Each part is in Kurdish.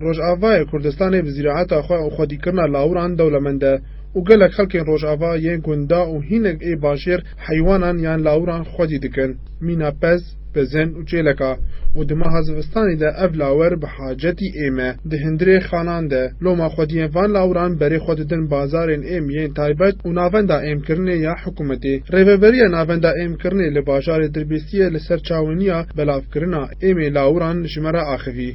Rojavayê Kurdistanê bi zîraeta xwe û xwedîkirina lawiran dewlemend e û gelek xelkên rojava yên gunda û hînek ê bajêr heywanan yan lawiran xwedî dikin, mîna pez, pezên û çêleka û di meha zivistanê de ev lawir bi hacetî êm e. Di hundirê xanan de loma xwediyên van lawiran berê xwe didin bazarên êm yên taybet û navenda êmkirinê ya hikûmetê. Rêveberiya Navenda Êmkirinê li bajarê Dirbêsiyê li ser çawiniya belavkirina êmê lawiran ji me re axivî.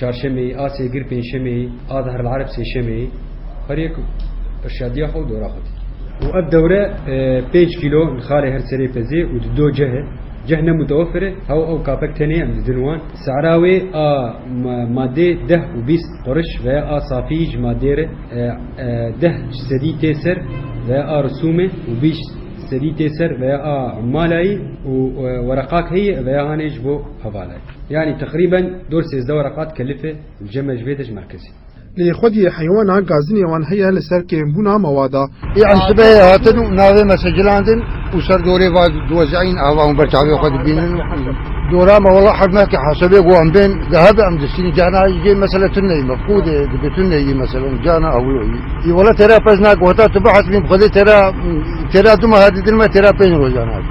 Çarşemê, a sêgir pênşemê, a Zahr el Areb sêşemê her yek irşadiya xwe û dora xwe dike. Û ev dewre pênc kîlo nixalê her serê pezê û di do ceh e. Ceh ne mutewefir e, hew ew kapek tenê em didin wan. Sehra wê a madê deh û bîst quriş veya a safiyî ji madê re deh sedî tê ser veya a risûm e û bîst sedî tê ser veya a malayî û wereqak heye veya hanê ji bo hevala ye. Yanî teqrîben dor sêzdeh were qat kelife li cem e ji vê de ji merkezê. Lê xwediyê heywana gazinê wan heye li ser kêmbûna mewada. Ê em sibehê hatin û navê me sicilandin û ser dorê va diwezîayin ava hûn ber çavê xwe dibînin û dora me wela hev nake hesebê ku em bên dihebe em distînin cana îgê mesele tu neyî mefqûdê dibe tu neyî mesele û cana ewlo î î wela têra pez nake heta tu bihesibîn bi xwedê têra têra du meha didin me têra pênc rojan hate.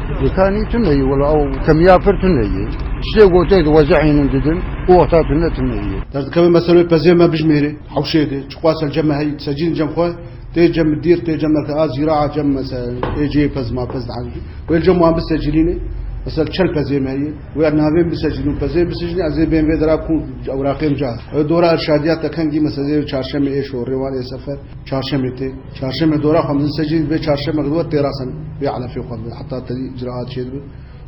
Ditanî tune yê wela ew kemiya pir tune yê. Ştê gotê diwece hînin didin û wexta tune tune yê. Derdikeve me serê pezê me bijmêrê hewşê dê. Çiqwa sel cem me heyî di secîn cem xwe tê cem bi dîr tê cem merke a zîra a cem mesel ê cê pez ma pez dihenjî. Wê cem wan bisecilînê mesel çel pezê me heyî wê navê bisecilîn û pezê bisicnî ez ê bên vê dera kû ewraqên ca. Ew dora irşadiya tekengî meselê çarşemê ê şorê wan ê sefer. Çarşemê tê. Çarşeme dora xwe mezin secdeyê dibe, çarşeme xwe têrasen bê elefê xwe dibe. Heta tevî icraat çêdibe,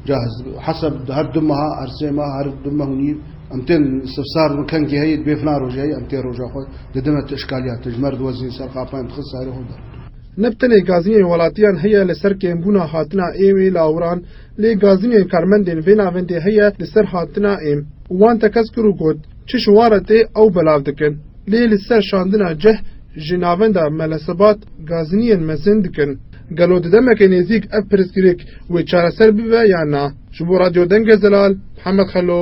cahiz dibe. Hesab dide her du meha, her sê mah, her du meh û nîv em tên sifsar dibin, kengê heye dibê filan rojê heye em tê roja xwe didin me tu îşkaliya te ji mer diwezîn ser qapa em dixin serê xwe der. Ne bi tenê gazînên welatiyan heye li ser kêmbûna hatina êm ê lawiran lê gazînên karmendên vê navendê heye li ser hatina êm û wan tekez kir û got, Çi şiwaretê ew belav dikin. Lê li ser şandina cih ji navenda Melesebat Gaziniyên mezin dikin. Gelo di demeke nêzîk ev pirsgirêk wê çareser bibe yan na? Ji bo Radyo Dengê Zelal, Mihemed Xelo.